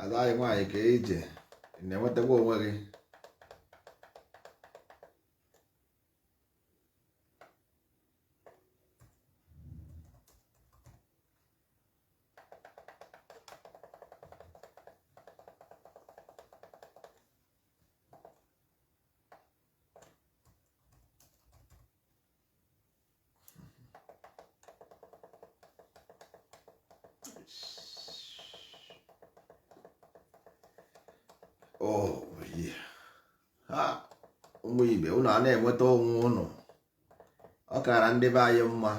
ada anyị nwaanyị kee ije ị na-enwetakwa onwe gị Oh, ha ụmụ ibe ụnụ ana-enweta onwe ụnụ ọ kara ndị be anyị mma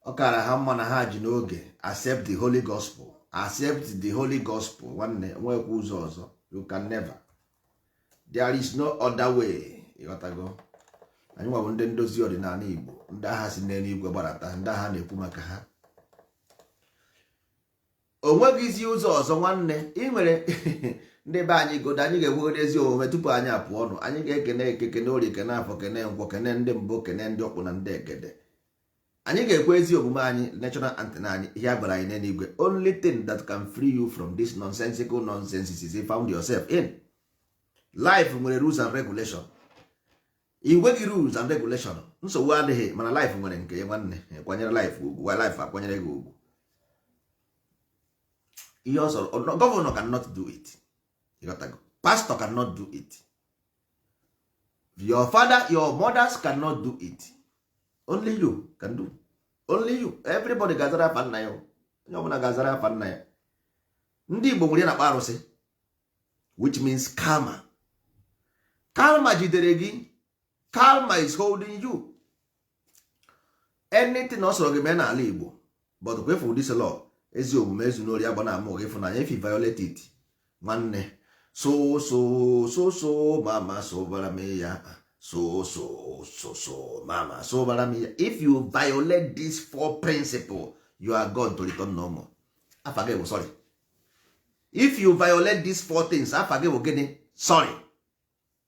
ọ kara ha mma na ha ji n'oge accept the holy gospel accept the holy gospel nwanne nwekwa ụzọ ọzọ you can never there is no other way ịghọtago anyị nwa bụ ndị ndozi ọdịnala Igbo ndị agha si n'elu igwe gbarata ndị ahụ a na-ekwu maka ha o nweghịzi ụzọ ọzọ nwanne ị nwere ndị be anyị godo anyị ga-ekwegodi ezi omume tupu anyị apụọ ọnụ anyị ga-ekene eke kene orie kene afọ kene nkwọ kene ndị mbụ kene ndị ọkpụ na ndị egede anyị ga-ekwe ezi omume anyị national anthem anyị ihe a gwara anyị n'eluigwe only thing that can free you from this nonsensical nonsenses you found yourself in life nwere rules and regulation i nweghị rules and regulation nsogbu adịghị mana life nwere nke ya nwanne kwanyere life ugwu life akwanyere gị ugwu ihe ọ sọrọ governor cannot do it ịghọtago pastor cannot do it your father your mothers cannot do it only you can do only you everybody ga-azara afa nna ya onye ọbụla ga-azara afa nna ya ndị Igbo nwere ihe a na-akpọ arụsị which means karma karma jidere gị karma is holding you anything ọ sọrọ gị mee n'ala Igbo but careful this law ezi omume ezuna ori agbana ama ịfụnanya if you violate it nwanne so so so so mama sobara m ya so so so so mama sobara m ya if you violate this four principle you are gone to return no more afa gị bụ sorry if you violate these four things afa gị bụ gịnị sorry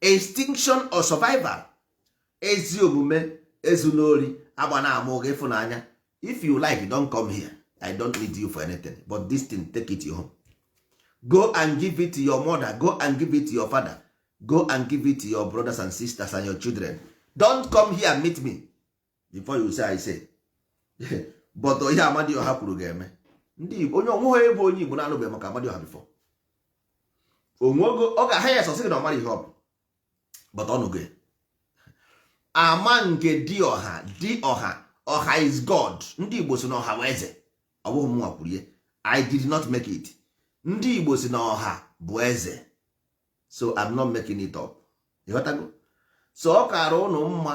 extinction or survival ezi omume ezu n'ori agba na ama oge ịfụnanya if you like don't come here i don't need you for anything but this thing take it home go and give it to your mother go and give it to your father go and give it to your brothers and sisters and your children don't come here and meet me before you say I say but ihe Amadioha kwuru ga-eme ndị Igbo onye o nweghị ebe onye Igbo na-anụbeghị maka Amadioha before o nweghị ọ ga-aha ya sọsọ na ọ marọ ihe ọ bụ but ọ nụgo ya ama nke di ọha di ọha ọha is God ndị Igbo sị na ọha bụ eze ọ bụghị mụnwa kwuru ya I did not make it ndị Igbo sị na ọha bụ eze so I'm not making it up ịghọtago so ọ kara ụnụ mma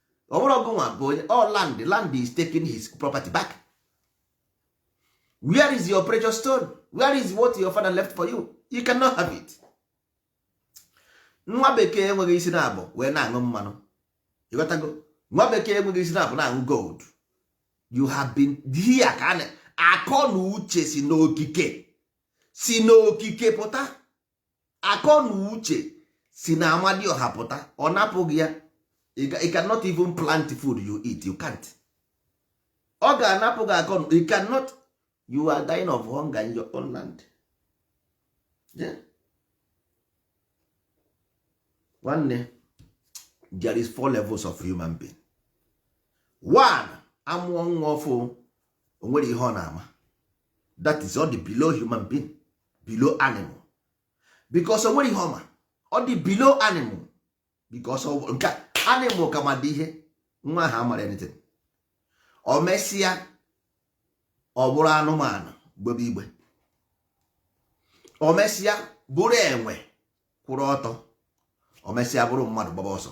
ọ bụrụ ọgụ nwa bụ onye all land the land is taking his property back where is your precious stone where is what your father left for you you cannot have it nwa bekee enweghị isi na abụ wee na-aṅụ mmanụ ịghọtago nwa bekee enweghị isi na abụ na-aṅụ gold you have been here ka akọ na uche si n'okike si n'okike pụta akọ na uche si na amadioha pụta ọ napụ gị ya you cannot even plant food you eat you can't ọ ga-anapụ gị akọ you cannot you are dying of hunger in your own land nwanne there is four levels of human being one a mụọ nwa ọfụụ o nwere ihe ọ na-ama that is ọ dị below human being below animal because o nwere ihe ọ ma ọ dị below animal because nke animal ka ma dị ihe nwa ahụ amara anything o mesịa ọ bụrụ anụmanụ gbebe igbe o mesịa bụrụ enwe kwụrụ ọtọ o mesịa bụrụ mmadụ gbaba ọsọ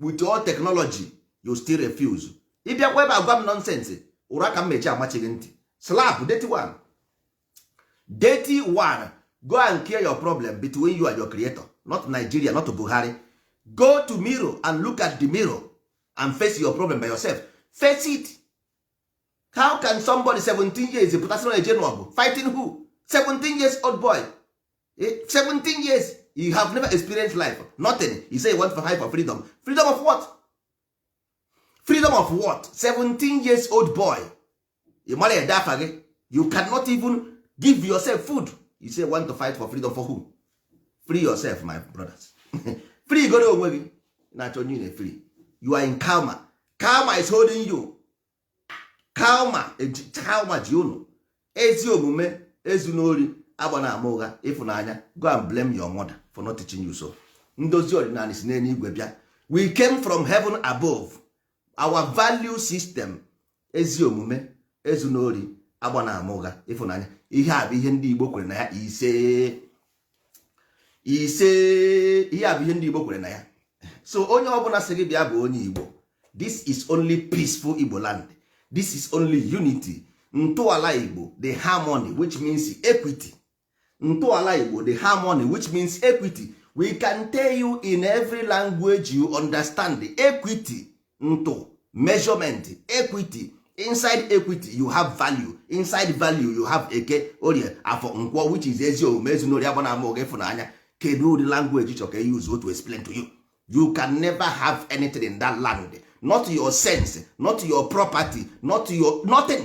with all technology you still refuse ịbịakwa ebe agwa m nonsense ụra ka m mechi amachighị ntị slap dirty one dirty one go and clear your problem between you and your creator not Nigeria not Buhari go to mirror and look at the mirror and face your problem by yourself face it how can somebody 17 years pụtasị na eje n'ọgụ fighting who 17 years old boy 17 years you have never experienced life nothing you say you want for high for freedom freedom of what freedom of what 17 years old boy ị mara ede afa gị you cannot even give yourself food you say want to fight for freedom for who free yourself my brothers free goro onwe gị na-achọ onye na free you are in karma karma is holding you karma karma ji unu ezi omume ezuna ori agbana ama ụgha ịfụnanya go and blame your mother for not teaching you so ndozi ọdịnala si n'eluigwe bịa we came from heaven above our value system ezi omume ezuna ori agbana ama ụgha ịfụnanya ihe a bụ ihe ndị Igbo kwere na ya ise ise ihe a bụ ihe ndị Igbo kwere na ya so onye ọbụla sị gị bịa bụ onye Igbo this is only peaceful Igbo land this is only unity ntọala Igbo the harmony which means equity ntọala Igbo the harmony which means equity we can tell you in every language you understand equity ntụ measurement equity inside equity you have value inside value you have eke orie afọ nkwọ which is ezi omume ezuna ori agbana ama ụgha ịfụnanya kedu ụdị language ị chọ ka e use to explain to you you can never have anything in that land not your sense not your property not your nothing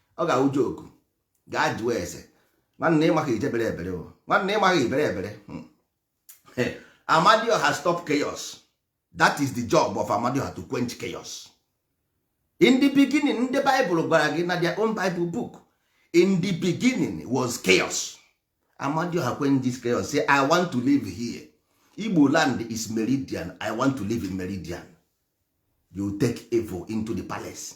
ọ ga-awụ joku gaa jụọ ese nwanne ịmaghị ijebere ebere o nwanne ịmaghị ibere ebere hmm. amadioha stop chaos that is the job of amadioha to quench chaos in the beginning ndị baịbụl gwara gị na their own bible book in the beginning was chaos amadioha quenches chaos say i want to live here igbo land is meridian i want to live in meridian you take evil into the palace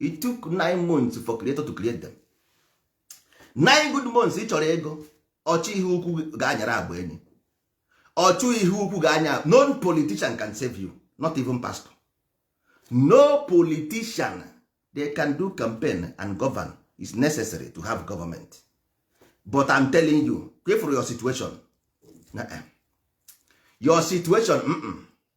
it took nine months for creator to create them nine good months ị chọrọ ego ọchụ ihe ukwu ga-anyara agba enyi ọchụ ihe ukwu ga-anya no politician can save you not even pastor no politician they can do campaign and govern is necessary to have government but I'm telling you pray for your situation your situation mm -mm.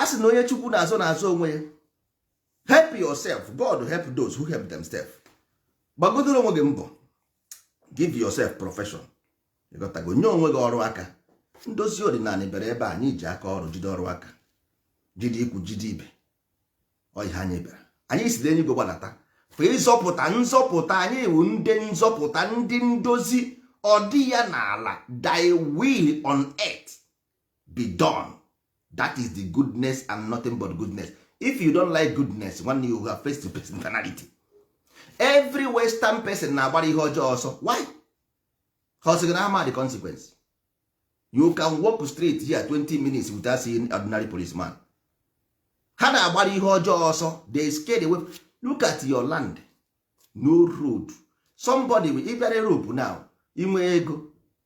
a sị na onye chukwu na-azọ na-azọ onwe ya help yourself god help those who help themselves gbagodoro onwe gị mbọ give yourself profession ịghọtago nye onwe gị ọrụ aka ndozi ọdịnala bere ebe anyị ji aka ọrụ jide ọrụ aka jide ikwu jide ibe ọ ihe anyị bịara anyị si n'enigwe gbadata fa ịzọpụta nzọpụta anyị wụ ndị nzọpụta ndị ndozi ọ dị ya n'ala thy will on earth be done that is the goodness and nothing but goodness if you don't like goodness one you have face to face personality every western person na-agbara ihe ọjọọ ọsọ why ha ọsịgị na ama the consequence you can walk straight here 20 minutes without seeing ordinary policeman ha na-agbara ihe ọjọọ ọsọ they scared away look at your land no road somebody will ịbịara europe now inwe ego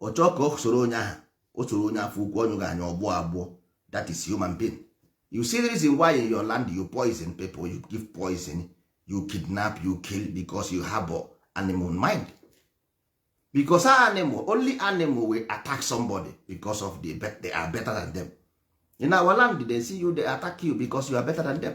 ọ chọọ ka ọ soro onye ahụ o soro onye afọ ukwu ọnyụ ga-anya ọgbụ abụọ that is human being you see the reason why in your land you poison people you give poison you kidnap you kill because you have animal mind because animal only animal will attack somebody because of the they are better than them in our land they see you they attack you because you are better than them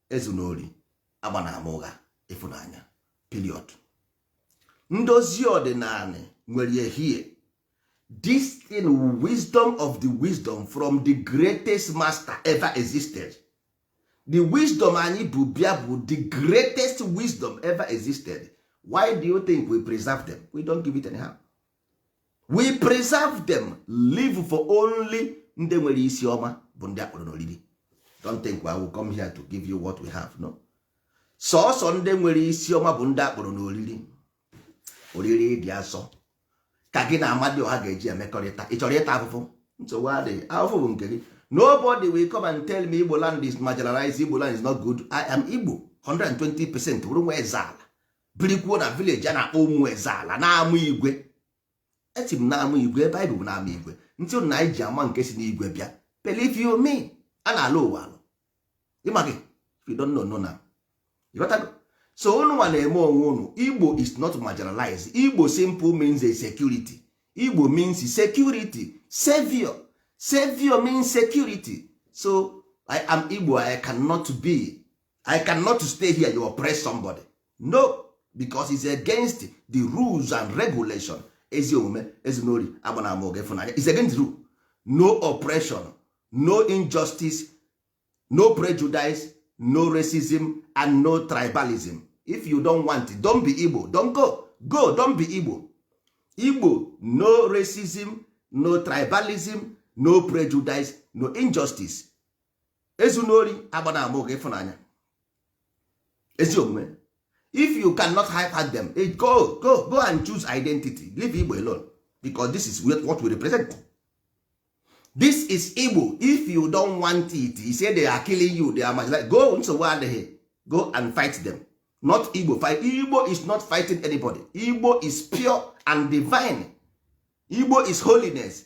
ezuna ori agbana ama ụgha ịfụnanya period ndozi ọdịnala nwere ihe this thing wisdom of the wisdom from the greatest master ever existed the wisdom anyị bu bịa bụ the greatest wisdom ever existed why do you think we preserve them we don't give it anyhow we preserve them leave for only ndị nwere isi ọma bụ ndị a kpọrọ n'oriri don't think I will come here to give you what we have no sọsọ ndị nwere isi ọma bụ ndị a kpọrọ n'oriri oriri dị asọ ka gị na amadịọha ga-eji emekọrịta ị chọrọ ịta afụfụ nsogbu adịghị afụfụ bụ nke gị nobody will come and tell me igbo land is marginalized igbo land is not good i am igbo 120 percent bụrụ nwa eze ala birikwuo na village a na-akpọ ụmụ eze ala n'ama igwe eti m n'ama igwe ebe anyị bụ n'ama igwe ntị na anyị ji ama nke si n'igwe bịa believe you me a na-alụ ụwa alụ ị maghị if you don't know know now ịghọtago so unu nwa na-eme onwe unu igbo is not marginalized igbo simple means a security igbo means security savior savior means security so i am igbo i cannot be i cannot stay here you oppress somebody no because it's against the rules and regulation ezi omume ezinori agbanama oge ịfụnanya is against rule no oppression no injustice no prejudice no racism and no tribalism if you don't want it, don't be igbo don't go go don't be igbo igbo no racism no tribalism no prejudice no injustice ezu n'ori agba na ama oge ịfụnanya ezi omume if you cannot hyper them eh, go go go and choose identity leave igbo alone because this is what we represent this is igbo if you don't want it you say they are killing you they are marginalized go nsogbu adịghị go and fight them not igbo fight igbo is not fighting anybody igbo is pure and divine igbo is holiness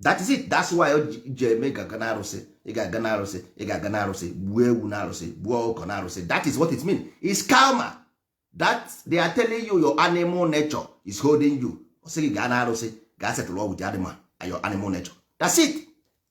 that is it that's why ji eme ga-aga na arụsị ị ga-aga na arụsị ị ga-aga na arụsị gbuo ewu na arụsị gbuo ọkụkọ na arụsị that is what it mean is karma that they are telling you your animal nature is holding you ọ sị gị gaa na arụsị gaa settle with the animal your animal nature that's it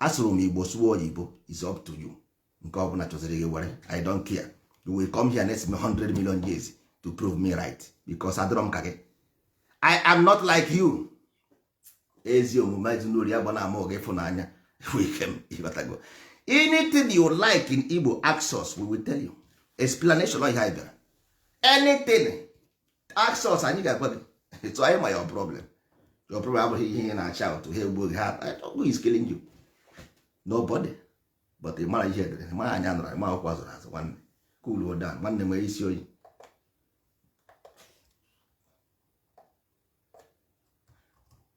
asụrụ m igbo sụọ oyibo is up to you nke ọ bụla chọziri gị were i don't care you will come here next 100 million years to prove me right because adịrọ m ka gị i am not like you ezi omume ezuna ori agbana ama ụgha ịfụnanya ikem ịghọtago anything you like in igbo ask us we will tell you explanation ọ ihe anyị bịara anything ask us anyị ga-agwa gị etu anyị ma your problem your problem abụghị ihe ị na-ashout ha egbuo gị ha who is killing you nobody but ị mara ihe e dere mara anya nụrụ ma akwụkwọ a zụrụ azụ nwanne cool down nwanne nwere isi oyi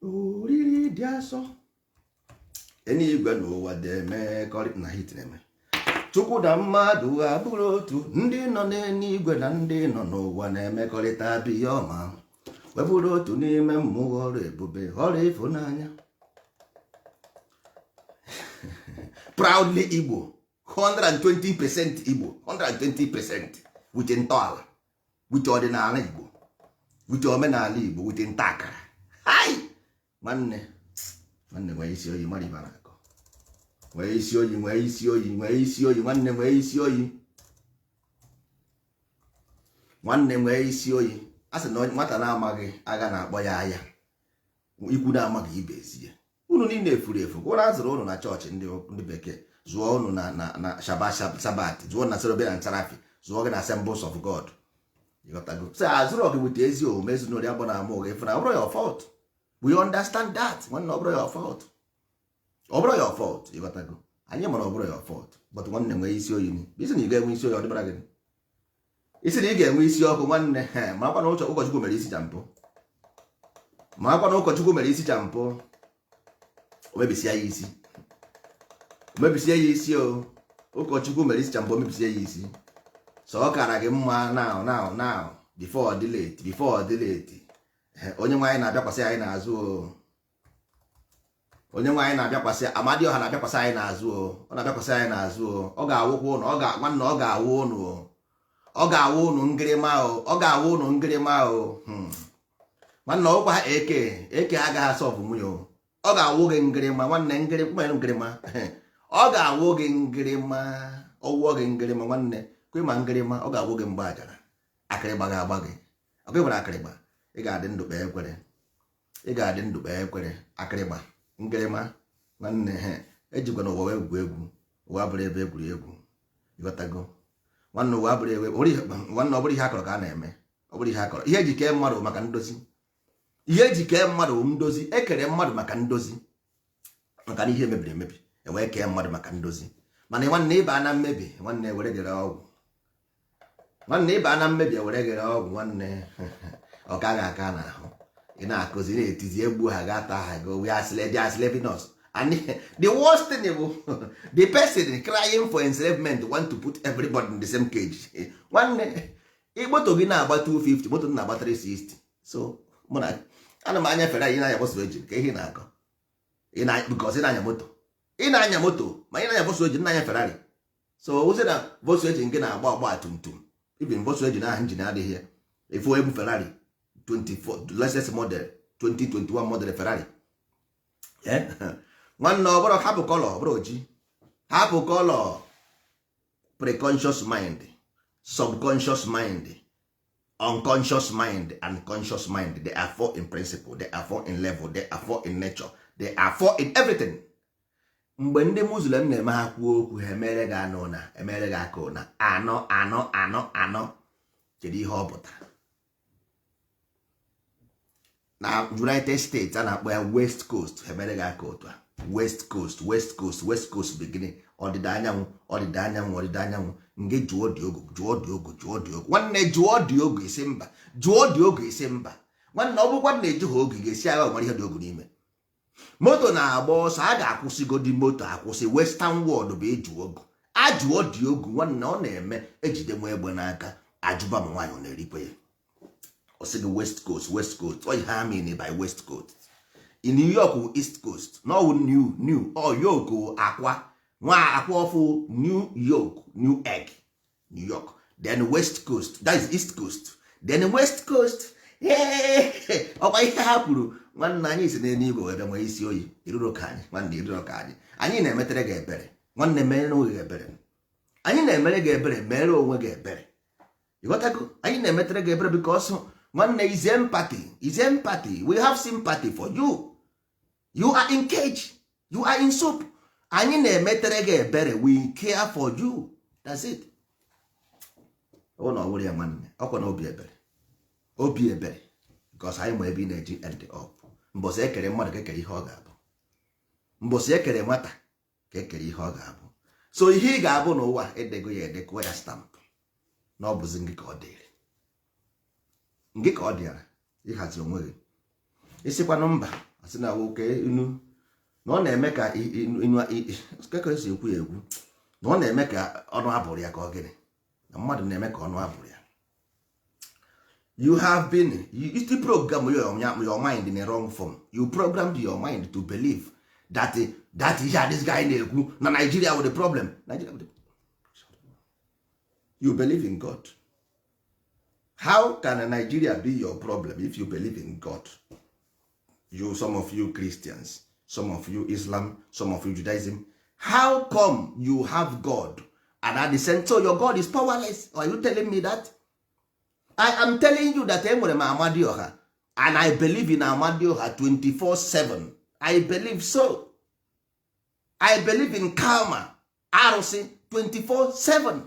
oriri dị asọ enigwe na ụwa deme na hit na-eme chukwu na mmadụ abụrụ otu ndị nọ n'enigwe na ndị nọ n'ụwa na-emekọrịta bụ ihe ọma wee bụrụ otu n'ime mmụọ ọrụ ebube ọrụ ịfụnanya proudly igbo 120 percent igbo 120 percent with ntọala with ọdịnala igbo with omenala igbo with ntakara nwanne nwanne nwee isi oyi mara ihe a na-akọ nwee isi oyi nwee isi oyi nwee isi oyi nwanne nwee isi oyi nwanne nwee isi oyi a sị na nwata na-amaghị agha na-akpọ ya aya ikwu na-amaghị ibe ezi ya unu niile efuru efu gwụrụ a zụrụ unu na chọọchị ndị bekee zụọ unu na sabbath zụọ unu na cherubim na seraphim zụọ gị na assembles of god ịghọtago so a zụrụ gị weta ezi omume ezinụlọ abụ na ama ụgha efu na ọ bụrọ your fault we understand that nwanne ọ bụrọ your fault ọ bụrọ your fault ịghọtago anyị mara ọ bụrọ your fault but nwanne nwee isi oyi ị sị na ị ga-enwe isi oyi ọ dịbara gị ị sị na ị ga-enwe isi ọkụ nwanne marakwa na ụkọchukwu mere isi shampoo marakwa na ụkọchukwu mere isi shampoo o mebisia ya isi o mebisia ya isi o ụkọchukwu mere isi shampoo o mebisia ya isi so ọ kara gị mma now now now before ọ dị late before ọ dị late onye nwe anyị na-abịakwasị anyị n'azụ o onye nwe anyị na-abịakwasị amadioha na-abịakwasị anyị n'azụ o ọ na-abịakwasị anyị n'azụ o ọ ga-awụkwa ụnụ nwanne ọ ga-awụ ụnụ o ọ ga-awụ ụnụ ngịrịma o ọ ga-awụ ụnụ ngịrịma o hmm. nwanne ọkwa ha eke eke agaghị asọbụ nwunye o ọ ga-awụ gị ngịrịma nwanne ngịrịma ngịrịma ọ ga-awụ gị ngịrịma ọ wụọ gị ngịrịma nwanne kwe ma ngịrịma ọ ga-awụ gị mgbe ajara akịrịgba ga-agba gị ọkụ nwere akịrịgba ị ga-adị ndụ kpee ekpere ị ga-adị ndụ kpee ekpere akịrịgba ngịrịma nwanne ejikwana ụwa wee egwu egwu ụwa abụrọ ebe egwuregwu ịghọtago nwanne ụwa abụrọ ebe nwanne ọ bụrọ ihe a kọrọ ka a na-eme ọ bụrọ ihe a kọrọ ihe e ji kee mmadụ maka ndozi ihe e ji kee mmadụ ndozi e kere mmadụ maka ndozi maka na ihe mebiri emebi e wee kee mmadụ maka ndozi mana nwanne ị ba na mmebi nwanne ewere gere ọgwụ nwanne ị ba na mmebi ewere gere ọgwụ nwanne ọ gaghị aka n'ahụ ị na-akụzi na-etizi egbu ha ga ata ha go we are slave they are slaving us and the worst thing bụ the person crying for enslavement want to put everybody in the same cage nwanne moto gị na-agba 250 moto na-agba 360 so mụ na ana m anya ferrari ị na-anya volkswagen kee ihe na-akọ because ị na-anya moto ị na-anya moto ma ị na-anya volkswagen na-anya ferrari so ọ zị na volkswagen gị na-agba ọgba tum tum even volkswagen ahụ njin adịghị ya efu ebu ferrari 24 latest model 2021 model ferari nwanne ọ bụrụ hapụ colour ọ bụrụ oji hapụ colour preconscious mind subconscious mind unconscious mind and conscious mind they are four in principle they are four in level they are four in nature they are four in everything mgbe ndị muslim na-eme ha kwuo okwu ha emere gị anọ ụna emere gị aka ụna anọ anọ anọ anọ kedu ihe ọ pụtara na united states a na-akpọ ya west coast ha emere gị aka otu a west coast west coast west coast beginning ọdịda anyanwụ ọdịda anyanwụ ọdịda anyanwụ nge jụọ dị ogo jụọ dị ogo jụọ dị ogo nwanne jụọ dị ogo isi mba jụọ dị ogo isi mba nwanne ọ bụkwa na eji ha oge ga-esi agha nwere ihe dị ogo n'ime moto na-agba ọsọ a ga-akwụsịgodi moto akwụsị western world bụ ịjụ ogu ajụọ dị ogu nwanne ọ na-eme ejide nwa egbe n'aka ajụba ma nwaanyị ọ na-erikwe ya ọ sị gị west coast west coast ọ ihe ha mean by west coast then new york wụ east coast na ọ wụ new new ọ york wụ akwa nwa akwa ọfụụ new york new egg new york then west coast that is east coast then west coast ọkwa ihe ha kwuru nwanne anyị si n'elu igwe were nwee isi oyi i rurọ ka anyị nwanne i rurọ ka anyị anyị na-emetere gị ebere nwanne mere onwe gị ebere anyị na-emere gị ebere mere onwe gị ebere ịghọtago anyị na-emetere gị ebere because nwanne it's empathy it's empathy we have sympathy for you you are in cage you are in soup anyị na-emetere gị ebere we care for you that's it ọ na ọ wụrọ ya nwanne ọkwa na obi ebere obi ebere because anyị ma ebe ị na-eji end up mbọsị ekere mmadụ ka ekere ihe ọ ga-abụ mbọsị ekere nwata ka ekere ihe ọ ga-abụ so ihe ị ga-abụ n'ụwa edego ya ede kụọ ya stamp na ọ bụzi ngị ka ọ dịrị ngị ka ọ dịara ịhazi onwe gị ị sịkwanụ mba asị na nwoke inu na ọ na-eme ka inu ekere si ekwu ya ekwu na ọ na-eme ka ọnụ abụrụ ya ka ọ gịnị na mmadụ na-eme ka ọnụ abụrụ ya you have been you still program your, your mind in a wrong form you programmed your mind to believe that that ihe a this guy na-ekwu na Nigeria with the problem Nigeria with the... you believe in God how can Nigeria be your problem if you believe in God you some of you Christians some of you Islam some of you Judaism how come you have God and at the same time your God is powerless are you telling me that I am telling you that enwere m Amadioha and I believe in Amadioha 24/7 I believe so I believe in karma arụsị 24/7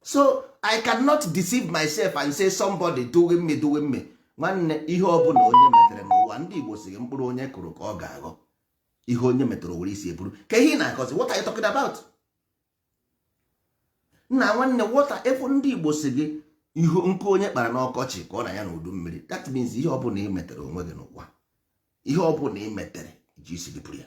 so i cannot deceive myself and say somebody doing me doing me nwanne ihe ọbụla onye metere n'ụwa ndị igbo sị gị mkpụrụ onye kụrụ ka ọ ga-aghọ ihe onye metere o were isi buru kee ihe ị na-akọzi what are you talking about nna nwanne wọta ife ndị igbo sị gị nkụ onye kpara n'ọkọchị ka ọ na-anya n'udu mmiri that means ihe ọbụla ị metere onwe gị n'ụwa ihe ọbụla ị metere i ji isi gị buru ya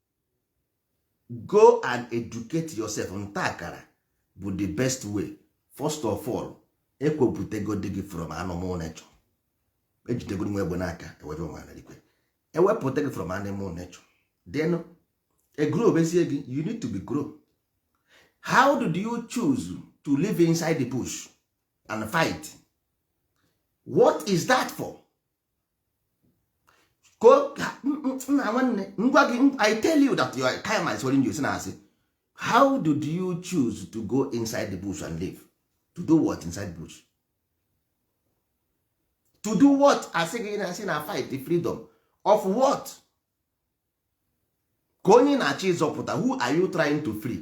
go and educate yourself nta akara bụ the best way first of all ewepụtagodi gị from animal nature ejidegodi nwa egbe n'aka ewebe nwara ikwe ewepụta gị from animal nature then e grow bezie gị you need to be grow how did you choose to live inside the bush and fight what is that for go nna nwanne m gwa gị i tell you that your karma is holding you si na asị how did you choose to go inside the bush and live to do what inside bush to do what asị gị na asị na fight the freedom of what kee onye ị na-achọ ịzọpụta who are you trying to free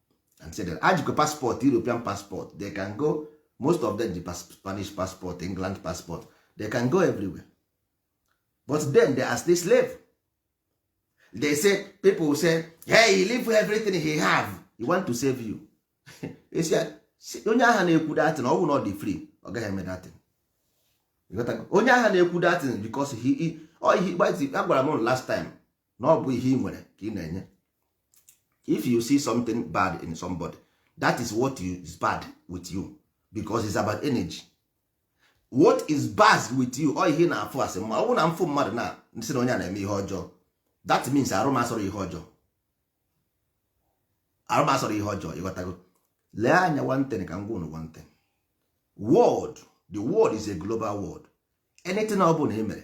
and say that ajikwa passport european passport they can go most of them ji spanish passport england passport they can go everywhere but then they are still slave they say people say hey he leave everything he have he want to save you onye agha na-ekwu datin ọ bụ na ọ dị free ọ gaghị eme datin onye agha na-ekwu datin because he agwara m last time na ọ bụ ihe ị nwere ka ị na-enye if you see something bad in somebody that is what is bad with you because it's about energy what is bad with you ọ ihe ị na-afụ asị ma ọ bụ na m fụ mmadụ na m sị na onye a na-eme ihe ọjọọ that means arụ m asọrọ ihe ọjọọ arụ m asọrọ ihe ọjọọ ịghọtago lee anya one thing ka m gwa unu one thing world the world is a global world anything ọ bụla ị mere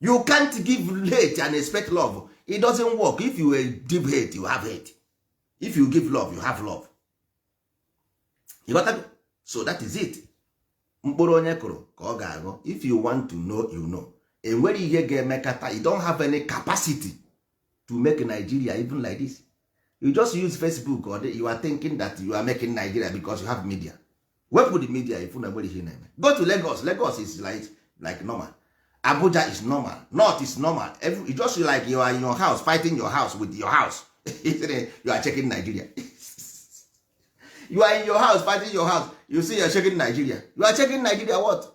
you can't give hate and expect love it doesn't work if you give hate you have hate if you give love you have love you got that? so that is it mkpụrụ onye kụrụ ka ọ ga-aghọ if you want to know you know enwere ihe ga-emekata you don't have any capacity to make Nigeria even like this you just use Facebook or you are thinking that you are making Nigeria because you have media wepụ the media ifu na nwere ihe na-eme go to Lagos Lagos is like, like normal Abuja is normal North is normal Every, you just like you are in your house fighting your house with your house you are checking Nigeria you are in your house fighting your house you see you are checking Nigeria you are checking Nigeria what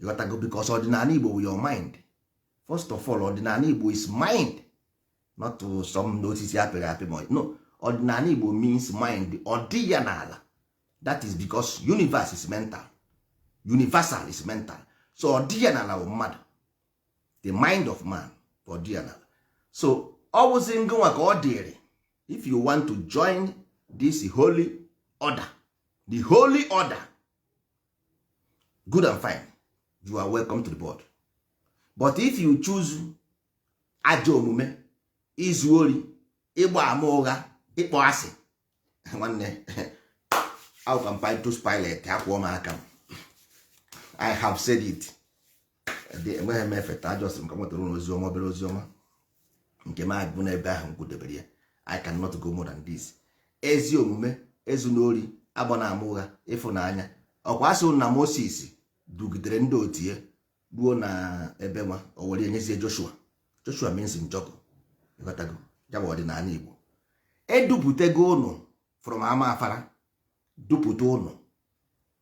ịghọtago because ọdịnala igbo bụ your mind first of all ọdịnala igbo is mind not some osisi a pịrị apị mba no ọdịnala igbo means mind ọ dị ya n'ala that is because universe is mental universal is mental so ọ dị ya n'ala bụ mmadụ the mind of man ọ dị ya n'ala so ọ bụzi ngịnwa ka ọ dịrị if you want to join this holy order the holy order good and fine you are welcome to the board but if you choose ajọ omume izu ori ịgba ama ụgha ịkpọ asị nwanne how can Pontius Pilate akwọọ m aka m I have said it enweghị m efeta ajọsị m ka m wetara ụnụ ozi ọma obere ozi ọma nke m agwụ n'ebe ahụ m kwudebere ya I cannot go more than this ezi omume ezuna ori agbana ama ụgha ịfụnanya ọ kwa a sị na Moses dugidere ndị otu ya ruo na ebe nwa o were enyezie Joshua Joshua means Njọkụ ịghọtago ya bụ ọdịnala Igbo edupụtago ụnụ from ama afara dupụta ụnụ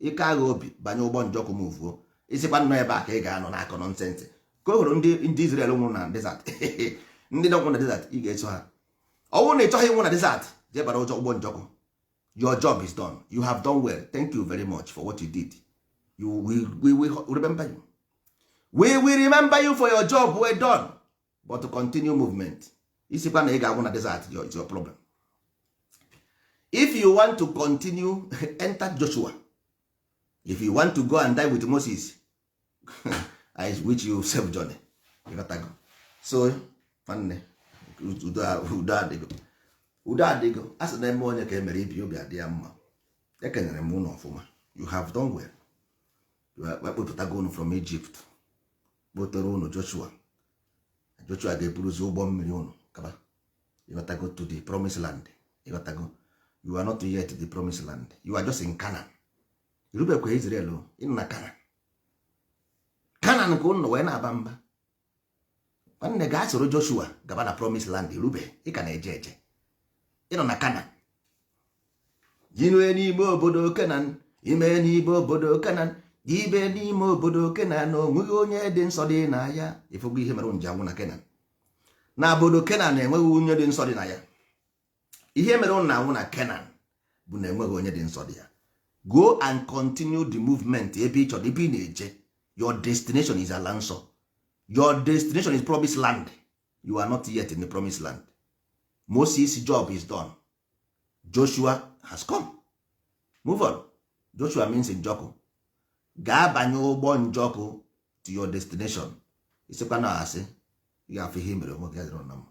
ike agha obi banye ụgbọ Njọkụ move ị sịkwa na ọ ebe a ka ị ga-anọ na-akọ nonsense ka o hụrụ ndị ndị Izrel nwụrụ na desert ndị nọkwụ na desert ị ga-eso ha ọ bụrụ na ị chọghị ịnwụ na desert jee bara ụjọ ụgbọ Njọkụ your job is done you have done well thank you very much for what you did you we, we, we remember you we will remember you for your job well done but to continue movement ị sịkwa na ị ga-agwụ na desert is your problem if you want to continue enter Joshua if you want to go and die with Moses I wish you safe journey so nwanne udo adịgo udo adịgo a sị na eme onye ka emere ibe obi adị ya mma ekenere m unu ọfụma you have done well ọ kpọpụtago unu from Egypt kpọtere ụnụ Joshua Joshua ga-eburuzi ụgbọ mmiri ụnụ gaba ịghọtago to the promised land ịghọtago you are not yet the promised land you are just in Canaan i rubekwa Israel ị nọ na Canaan Canaan ka ụnụ wee na-aba mba nwanne gaa soro Joshua gaba na promised land i rube ị ka na-eje eje ị nọ na Canaan ime n'ime obodo kenan ime n'ime obodo kenan ime n'ime obodo kenan onweghị onye dị nsọ dị na ya ị fụgo ihe mere ụnụ ji anwụ na kenan na obodo kenan enweghị onye dị nsọ dị na ya ihe mere ụnụ na-anwụ na kenan bụ na enweghị onye dị nsọ dị ya go and continue the movement ebe ị chọrọ ebe ị na-eje your destination is ala nsọ your destination is promised land you are not yet in the promised land moses job is done joshua has come move on joshua means njọkụ gaa banye ụgbọ njọkụ to your destination ị sịkwa na asị ị ga-afụ ihe mere onwe gị adịrọ na mma